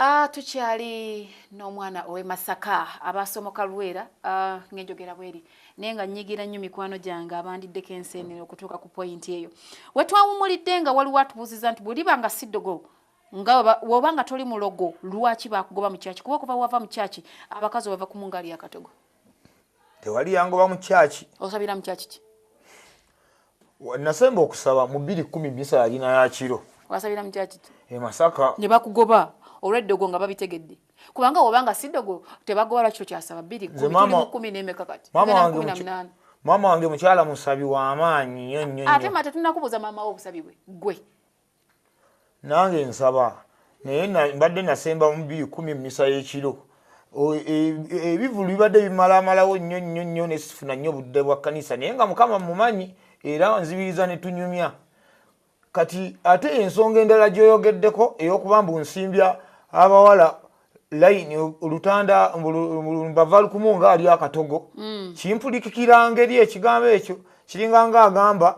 Ah, tukyali n'omwana ow'e Masaka aba asomoka Lwera ah, ng'enjogera bweri naye nga nnyigira nnyo mikwano gyange abandiddeko enseenene okutuuka ku poyinti eyo we twawummulidde nga waliwo atubuuzizza nti bweliba nga si ddogo nga woba nga toli mulogo lwaki bakugoba mu kyaki kuba okuva wava mu kyaki abakazi obava ku mungaali yakatogo tewali yangoba mu kyaki osabira mu kyaki ki nasemba okusaba mu bbiri kumi misa yalina yakiro wasabira mukyaki e masaka ne bakugoba olweddogo nga babitegedde kubanga wobanga sidogo tebagoba lwakiro kyasaba bbiri kumi nemeka kati maama wange mukyala musabi wamaanyi nyo nyo ate mate tunakubuza maama wo obusabi bwe gwe nange nsaba naye mbadde nasemba mu bbiri kumi mumisa y'ekiro e, ebivulu bibadde bimalaamalawo nnyo nnyo nnyo nesifuna nnyo budde bwa kkanisa naye nga mukama mumanyi era nzibiriza ne tunyumya kati ate ensonga endala gyoyogeddeko ey'okuba mbu nsimbya abawala layini olutanda mbava lukumu nga ali akatogo mm. kimpulikikira ngeri ekigambo ekyo kiringa nga agamba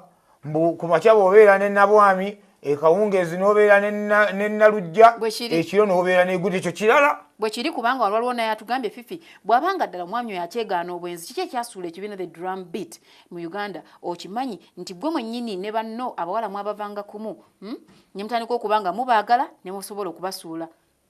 mbu ku makya bwobeera ne nabwami ekawungeezi nobeera ne nalujja ekiro nobeera neguda ekyo kirala bwe kiri kubanga walwaliwo naye atugambye fifi bwabanga ddala omwami oyo akyegaana obwenzi kiki ekyasuula ekibiina the drum beat mu uganda okimanyi nti gwe mwennyini ne banno abawala mwabavanga kumu hmm? ne mutandika okubanga mubaagala ne musobola okubasuula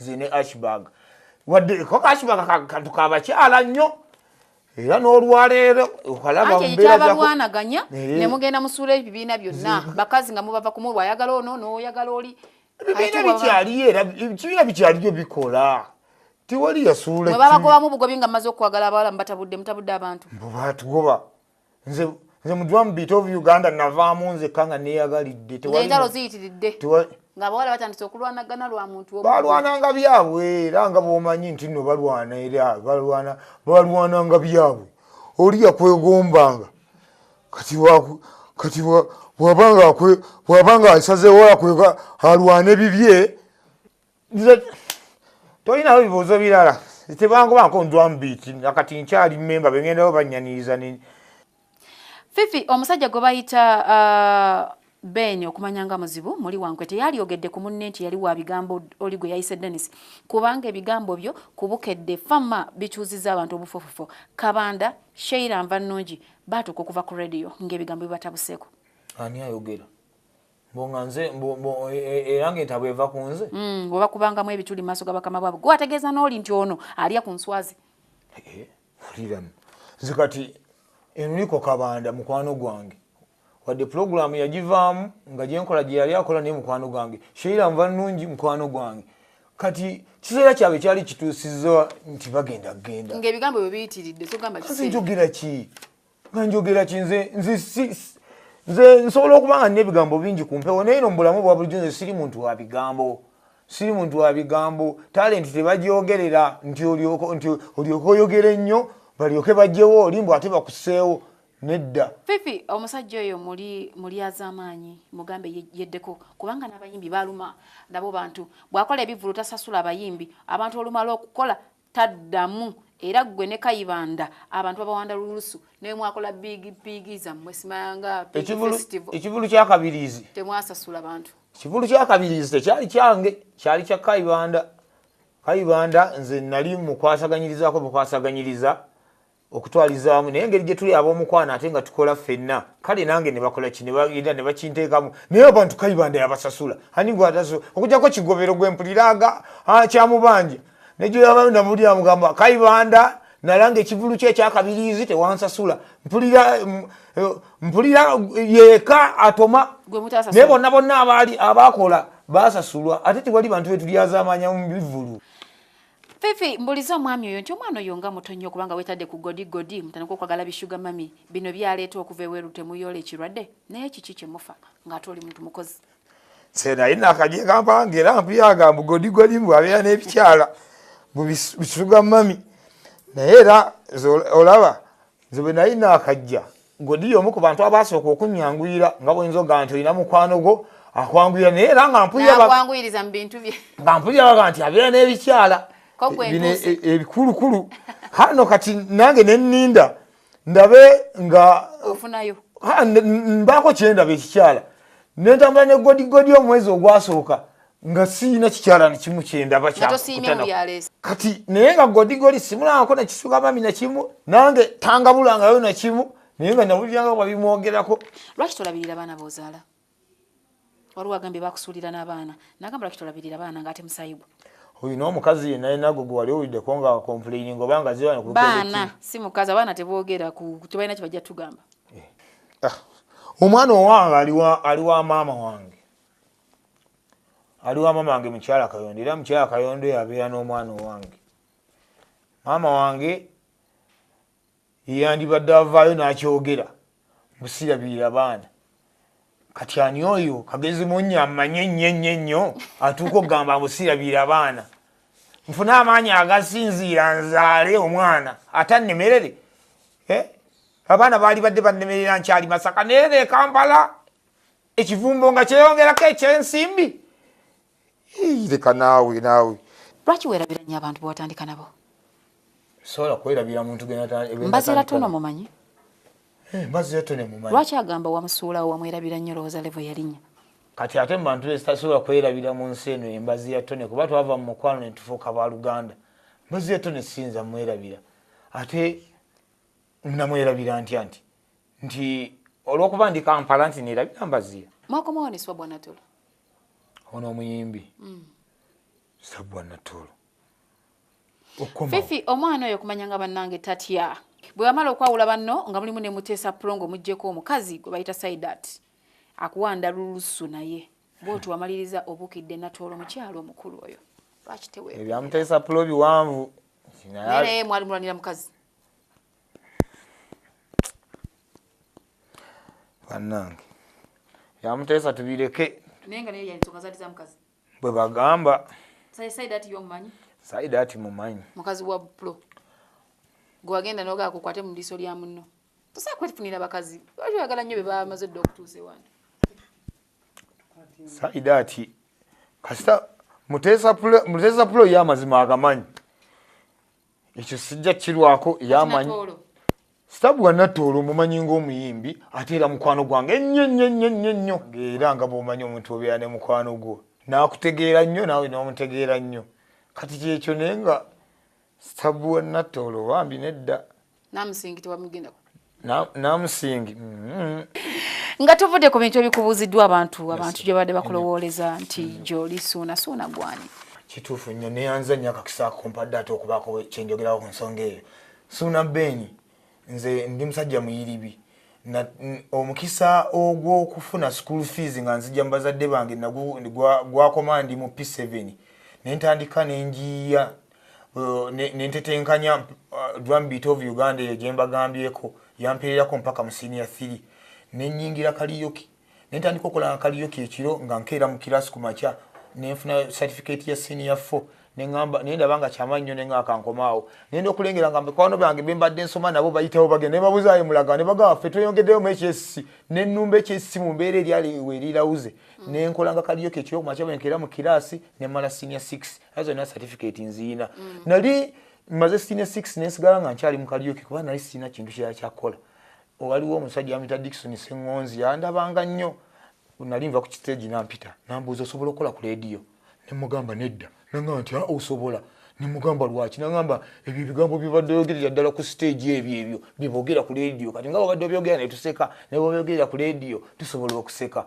nze ne ashbag wadde koko ashbag kantu kabakyala nnyo era n'olwaleero okalabakyabalwanaganya eh. ne mugenda musuula ebibiina byonna bakazi nga mubava kumu lwayagala ono n'oyagala oli ebibiina bikyaliyo era ebibiina bikyaliyo bikola tewali yasuula babagobamu bugobi nga maze okwagala abawala mubatabudde mutabudde abantu mubatugoba nze nze mu drum beat of uganda navaamu nzekka nga neyagalidde entalo ziyitiridde nga abawala batandise okulwanagana lwa muntu balwananga byabwe era nga bwomanyi nti no balwana era balwana balwananga byabwe oli yakwegombanga kati kati bwabanga bwabanga asazeewo akwega alwane bibye nze tolinawo bibuuzo birala tebangobanko ndwamu biiki akati nkyali memba bengendawo banyaniriza fifi omusajja gwe bayita uh, ben okumanya nga muzibu muli wankwe teyalyogedde ku munne nti yali wa bigambo oli gwe yayise denis kubanga ebigambo byo kubukedde fama bikyuziza abantu obufofofo kabanda sheira nva nnungi baatuuka okuva ku rediyo ng'ebigambo bibatabuseeko ani ayogera mbonga nze era nga entabwe eva ku nze mm, oba kubangamu ebituli maaso ga bakama bwabwe gwe ategeeza n'oli nti ono alya ku nswazi uliramu nze kati enuliko kabanda mukwano gwange wadde pulogulaamu yagivaamu nga gyenkola gye yali akola naye mukwano gwange sheira nva nnungi mukwano gwange kati kiseera kyabwe kyali kituusiza nti bagenda kugenda ngaebigambo bwe biyitiridde sogambanjogera ki nga njogera ki nze nze nsobola okuba nga nina ebigambo bingi ku mpewo naye no mu bulamu bwa bulijjo nze siri muntu wa bigambo siri muntu wa bigambo talenti tebagyogerera nti olyoka oyogera ennyo balyoke bajjewo oli mbu ate bakuseewo nedda fifi omusajja oyo muli muli azamaanyi mugambe yeddeko kubanga n'abayimbi baluma nabo bantu bw'akola ebivulu tasasula abayimbi abantu olumala okukola taddamu era gwe ne kayibanda abantu babawanda lulusu naye mwakola big big zamwe simayanga ekivulu kyakabirizi temwasasula bantu ekivulu kyakabirizi tekyali kyange kyali kya kayibanda kayibanda nze nali mukwasaganyirizako bukwasaganyiriza okutwaliza wamu naye engeri gyetuli ab'omukwano ate nga tukola ffenna kale nange nebakola ki nebaira nebakinteekamu naye abantu kaibanda yabasasula anigwataso okujako kigobero gwempuliraga ah, kyamubanja nejoyaba namuli amugamba kaibanda nalanga ekivulu kye ekyakabiriizi tewansasula mpulira mm, eh, mpulira yeka atoma naye bonna bonna abaali abakola basasulwa ate tewali bantu betulyazamanya mu bivulu Fifi mbuliza omwami oyo nti omwana oyo nga muto nnyo kubanga wetadde ku godi godi mutandika okwagala bishuga mami bino byaleeta okuva eweru temuyoola ekirwadde naye kiki kyemufa ng'ate oli muntu mukozi senaye nakaje kampanga era mpuyaga mbu godi godi mbu abeera n'ebikyala mbu bishuga mami naye era olaba nze bwe nali naakajja godiyo omu ku bantu abaasooka okunnyanguyira nga bwe nzoga nti olina mukwano gwo akwanguyira naye era nga mpuliraakwanguyiriza mu bintu bye nga mpulira baga nti abeera n'ebikyala bino e, e, ebikulukulu hano kati nange ne nninda ndabe nga ofunayo mbaako kyendaba ekikyala nentambula ne godigodi omwezi ogwasooka nga siyina kikyalani kimu kyendaba kati naye nga godigoli simulangako nekisuka mami nakimu nange tangabulangayo nakimu naye nga nawuliranga babimwogerako lwaki tolabirira baana bozaala waliwo agambye bakusuulira n'abaana nagamba lwaki tolabirira baana ngaate musayi gwe oyo n'omukazi ye naye nago gwe wali owuliddeko nga complaining oba nga zibaana si mukazi abaana teboogera tebalina kye bajja tugamba eh. ah. omwana owange ali wa maama wange ali wa maama wange mukyala kayondo era mukyala kayondo yabeera n'omwana owange maama wange yeyandibadde avaayo n'akyogera busirabirira baana kati ani oyo kagezi munnya ammanye ennyo ennyo ennyo atuuka okugamba busirabirira abaana nfune amaanyi agasinziira nzaale omwana ate annemerere eh? abaana baali badde bannemerera nkyali masaka naye nekampala ekivumbo nga kyeyongerako ekyensimbi leka naawe naawe lwaki werabira nyo abantu bewatandika nabo sobola kwerabira muntu mbazira tono mumanyi eh, mbazira tono mumanyi lwaki agamba wamusuulawo wamwerabira nyo lowooza levo yalinya kati ate mu bantu ezitasobola kwerabira mu nsi eno embazi ya tone kuba twava mu mukwano ne tufuuka ba luganda mbazi ya tone siyinza mwerabira ate namwerabira ntya nti nti olwokuba ndi kampala nti nerabira mbaziya mwakomawo ne swabwa natolo ono omuyimbi mm. swabwa natolo fifi omwana oyo kumanya nga bannange tatya bwe wamala okwawula banno nga mulimu ne muteesa pulongo muggyeko omukazi gwe bayita saidat akuwanda lulusu naye bwoti wamaliriza obukidde natoola omukyalo omukulu oyo lwaki tewe ebyamuteesa pulo biwanvu naye mwali mulwanira mukazi banange yamuteesa tubireke bwe bagamba saida ati mumanyi mukazi wa pro gwewagenda nogaa kukwate mu liiso lya munno tosaa kwefunira bakazi lwaki oyagala nnyo be bamaze dda okutuusa ewange saida ati kasita muteesa pulo ye amazima agamanyi ekyo sijja kirwako yamanyi sitabu wa nattoolo omumanyi ng'omuyimbi ate era mukwano gwange ennyo nnyo nnyo nnyo nnyo era nga bw'omanyi omuntu obeera ne mukwano gwo n'akutegeera nnyo naawe n'omutegeera nnyo kati kyekyo naye nga sitabu wa nattoolo bambi nedda namusingiti wamugenda namusingi mm-hmm. nga tuvudde ku bintu ebikubuuziddwa abantu abantu gye babadde bakulowooleza nti mm-hmm. gyoli suuna suuna gwani kituufu nnyo neyanza nnyo akakisa kumpadde ate okubaako kyenjogerawo ku nsonga eyo suuna beeni nze ndi musajja muyiribi omukisa ogwokufuna school fees nga nzija mubazadde bange gwakoma ndi mu p7 nentandika nenjiiya uh, nentetenkanya uh, drum beat of uganda eyo gyembagambyeko yampeererako mpaka mu senior 3 nenyingira kaliyoki nentandika okolanga kaliyoki ekiro nga nkeera mu kirasi ku makya nenfuna certificate ya senior fo neamba naye ndaba nga kyamanyi nyo nenga akankomaawo nenda okulengera nga mikwano bange bembadde nsoma nabo bayitawo bagenda nebabuzayo mulaga nebagamba fe tweyongeddeyo mu ekyesisi nenumba ekyesisi mu mbeera eryaliwe erirauze nenkolanga kaliyoki ekiro ku makya bwenkeera mu kirasi nemala senior 6 azo na certificate nziina mm. nali maze sine 6 nesigala nga nkyali mu kaliyoki kuba nali sina kintu kya kyakola waliwo omusajja amita Dickson Sengonzi yandabanga nnyo nali nva ku stage nampita nambuuza osobola okukola ku radio nemugamba nedda nangamba nti ah, osobola nemugamba lwaki nagamba ebyo ebigambo byobadde oyogerera ddala ku siteegi ebyo ebyo byebogera ku leediyo kati nga babadde obyogera netuseka nebobyogerera ku leediyo tusobola okuseka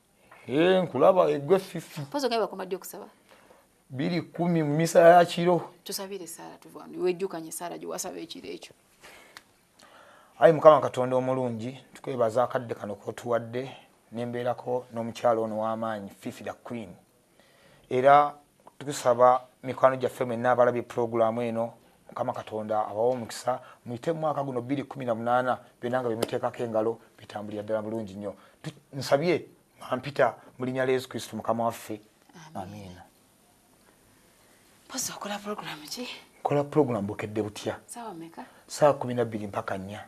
Eh, nkulaba egwe fifi pozo nga bakoma ddi okusaba biri kumi mu misa ya kiro tusabire esaala tuvanu wejjukanye esaala gye wasaba ekiro ekyo ayi mukama katonda omulungi tukwebaza akadde kano kotuwadde nembeerako n'omukyalo ono w'amaanyi fifi the queen era tukusaba mikwano gyaffe mwenna abalabye pulogulaamu eno mukama katonda abawa omukisa muyite mu mwaka guno bbiri kumi na munaana byonna nga byemuteekako engalo bitambulira ddala bulungi nnyo nsabye mampita mu linnya lya yesu kristo mukama waffe amiina pozi okola pulogulaamu ki nkola pulogulaamu bukedde butya saawa kumi nabbiri mpaka nnya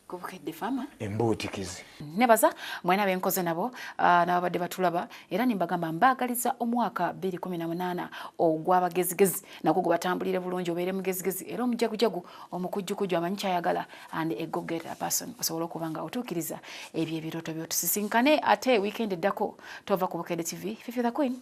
kubukedde fama embuutikizi nebaza mwena benkoze nabo ah, nababadde batulaba era nembagamba mbaagaliza omwaka 218 ogwabagezigezi nagwo gubatambulire bulungi obeere mugezigezi era omujagujagu omukujjukuju amanyi kyayagala and egogera person osobola okuba nga otuukiriza ebyo ebirooto byotusisinkane ate wiikendi eddako tova ku bukedde tv fifi the queen